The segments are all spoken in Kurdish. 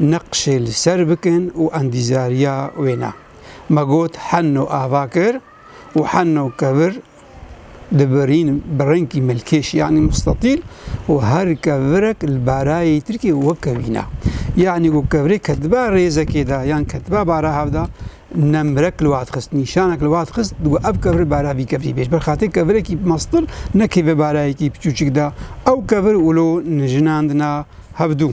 neqşê li ser bikin û endîzariya wê ne. Me got henno ava kir û henno kevir dibirîn bi rengkî melkêş yanî mustatîl û her kevirek li barayê tirkê wek kevîne. Yanî ku kevirê ketiba rêzekê de yan ketiba bara hev de nemrek li wat xist, nîşanek li wat xist digo ev kevir bara vî kevirî bêj. Ber xatirê kevirekî mastil nekeve barayekî piçûçik de ew kevir wilo nijinandina hevdû.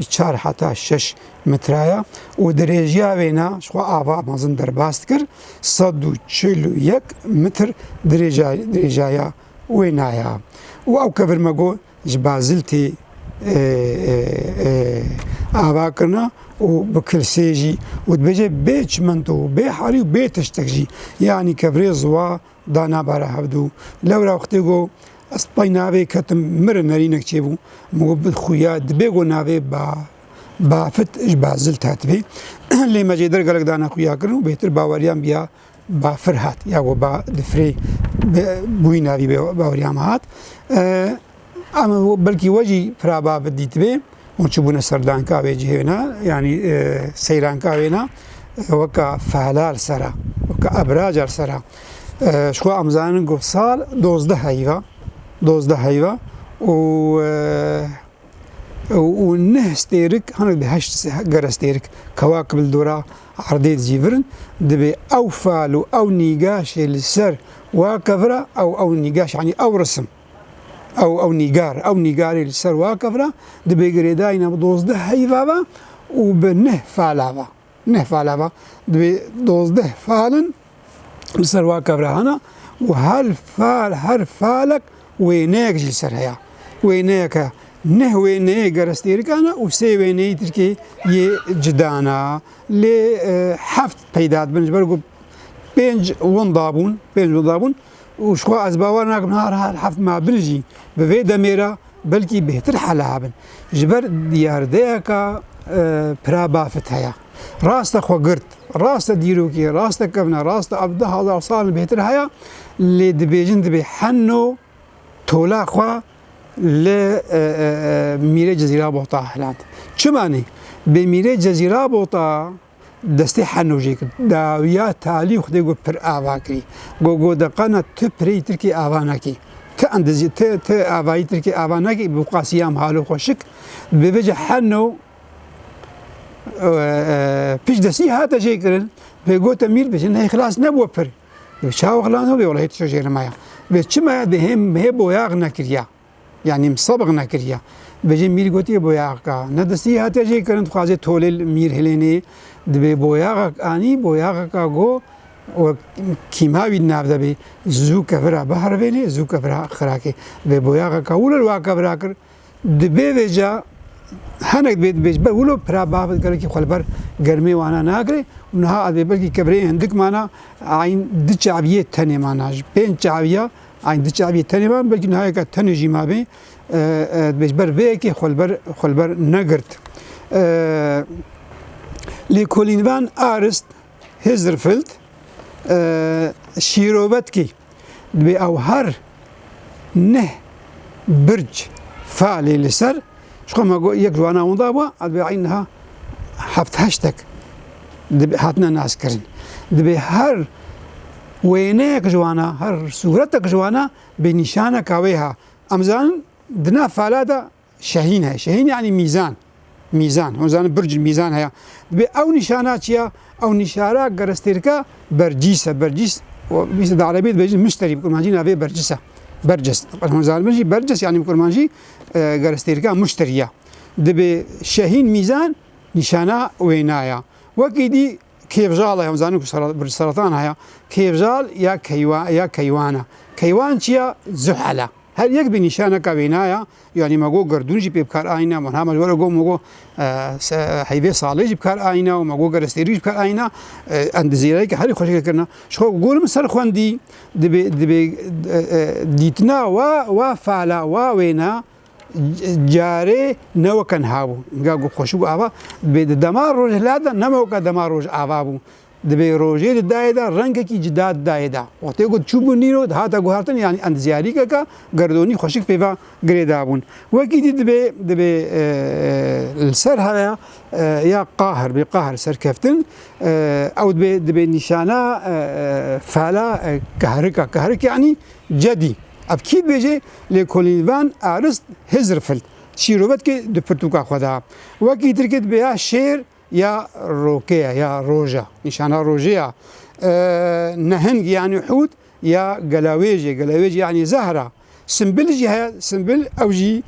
ji çar heta şeş metre ye û dirêjiya wê ne ji xwe ava mezin derbas dikir, sed û çil û yek metr dirêjaya wê ne ye û ew kevirmego ji bazil tê avakirin û bi kilsê jî û dibêje bê çimento û bê halî û bê tiştek jî yanî kevirê ziwa Da nabare hevdu. Lewra wextê go ez pay navê ketim min re nerînek çêbû. Min got bi xuya dibê go navê ba Bafit ji Bazil tatibe. Lê me cêder gelek dana xuya kirin û bêtir baweriyan biya Bafir hat ya go ba difirê bûyî navî baweriyan hat. Em belkî we jî piraba bi dîtibê û çibûne serdanka wê cihê ne yanî e, seyranka wê ne e, weka fehlal sera weka ebracar sera e, xwe em zanin ku sal dozde heyva dozde heyva û û neh stêrik hinek di heşt gere stêrik kewa ki bildora erdê jî virin dibê ew fal û ew nîgaşê li ser waka vira ew ew nîgaş yanî ew risim Ew ew nîgar ew nîgarê li ser wa kevra di bê girêdayîna bi dozdeh heyva ve û bi neh fala ve. Neh fala ve di bê dozdeh falin li ser wa kevra hene û her fal her falek wêneyek jî li ser heye. Wêneyek e neh wêneyê gerestêrikan e û sê wêneyî tirkê yê cidan e. Lê heft peyda dibin ji ber ku pênc winda bûn pênc winda bûn. û ji xwe ez bawer nakim niha her heft ma bin jî bi vê demê re belkî bêhtir hela bin. Ji ber diyardeyeke pirabafit heye. Rast e xwe girt, rast e dîrokê, rast e kevne, rast e ev du hezar sal li bêhtir heye lê dibêjin dibê heno tola xwe li mîrê Cezîra Bota hilend. Çima nê? Bê mîrê Cezîra Bota destê henojê kir. Dawiya talî xwedê got pir ava kirî. Got got de qana tu pirêyî tirkî ava nekî. Tu endizî tu tu avayî tirkî ava nekî bi qasîyam halo xwe şik. Bi vê ci heno pij destî hate jê kirin. Vê gote mîr bi jin hey xilas nebû pir. Çawa xilas nebû welayi tu jê rimaya. Vê çimaya dê hê boyax nekiriya. Yanî msabq nekiriye. Bêjê mîr gotiye boyaxka. Ne distî hatiye jê kirin dixwazê tolê li mîr hilênê. Dibê boyaxek anî boyaxeka go wek kîma wî di nav de bê. Zû kevira biherivênê zû kevira xirakê. Vê boyaxeka wilo li wa kevira kir. Di bê vê ca henek dibê di bêj ber wilo pira bav di gelekî xwe li ber germê wana nagirê û niha ez bê belkî kevireyê hindik mana ayn di çaviyê tenê mana ji pênc çaviya Eyn di çaviyê tenê ma belkî nihayeke tenê jî ma bê dibê ji ber vê yekê xwe li ber xwe li ber negirt. Lêkolîn van arist Hizirfilt şîrovetkî dibê ew her neh birc falê li ser Ji xwe me got yek ji wana winda be divê niha heft heştek hatine naskirin. Divê her wêneyek ji wana her sûretek ji wana bê nîşaneka wê ha. Em zanin di nav fala de şehîn heye. Şehîn yanî mîzan. Mîzan. Hûn zanin birc mîzan heye. Divê ew nîşana çi ya? Ew nîşara gerestêrka bercîs e. Bercîs di erebî dibêjin muşterî bi kurmancî navê bercîs e. Bercîs. Hûn zanin jî bercîs yanî bi kurmancî gerestêrka Muştir ya. Dibê Şehîn Mîzan nîşana wêna ya. Wekî dî kêvjal e, em zanin ku bi seratan heye. Kêvjal ya keywa ya keywan e. Keywan çi ya? Zuhel e. Her yek bi nîşaneka wêna ya. Yanî me got gerdûn jî pê bi kar ayîne, wiha me ji we re got me got heyvê salê jî bi kar ayîne û me got gerestêrî jî bi kar ayîne. Em di zêreyeke herî xweşikê kirine. Ji xwe ku gorim ser xwendî, Divê divê dîtina wa wa fala wa wêna carê ne weke niha bû. Ga got xweşik û ava divê di dema rojhilata de nebe weke dema rojava bû. Divê rojê di dayê de rengekî cida di dayê de. Wextê ku çûbû nîro dihata guhertin yanî endizyarîkeke gerdonî xweşik pêva. girê dabûn. Wek îdî dibê dibê li ser heya ya qahir bê qahir serkeftin ew dibê dibê nîşana fela kehrika kehrik yanî cedî. Ev kî dibêjê lê kolînvan erist hizr fil çîrobet ki di pirtûka xwe de wekî tir ki dibê ya şêr ya rokeye ya roja nîşana rojê ya nehing yanî hût ya gelawêjê gelawêjê yanî zehra. Simbil jî heye, simbil ew jî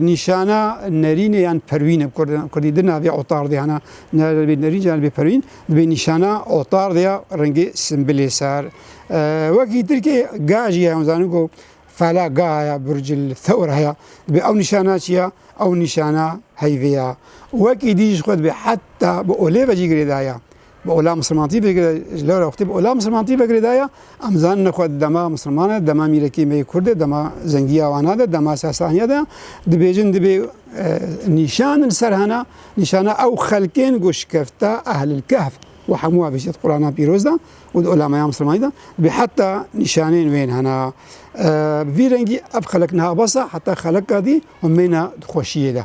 nîşana nerînê yan perwîn e kurdî di navê otar de hene. Navê nerîn jî navê perwîn dibê nîşana otar de ya rengê simbilê ser. Wekî tirkê ga jî heye zanin ku fela ga heye burcil thewr heye. Dibê ew nîşana çi ya? Ew nîşana heyvê ya. Wekî dî jî xwe dibê heta bi olê ve jî girêdaya. Bi ola Musulman TV girê ji lewre wextê bi ola Musulman TV girê de ye. Em zanine ku dema Musulman e, dema mîrekî me yê Kurd e, dema zengiya wan hebe, dema Sasaniya de ye. Dibêjin dibê nîşanin ser hena nîşana ew xelkên ku şikefta Ehlil Kehf û hemû ev jî di Qurana Pîroz de û di ola me ya Musulmanî de dibê heta nîşanên wê yên hena. Bi vî rengî ev xelek niha bes e heta xelek kadî û mêne di xweşiyê de.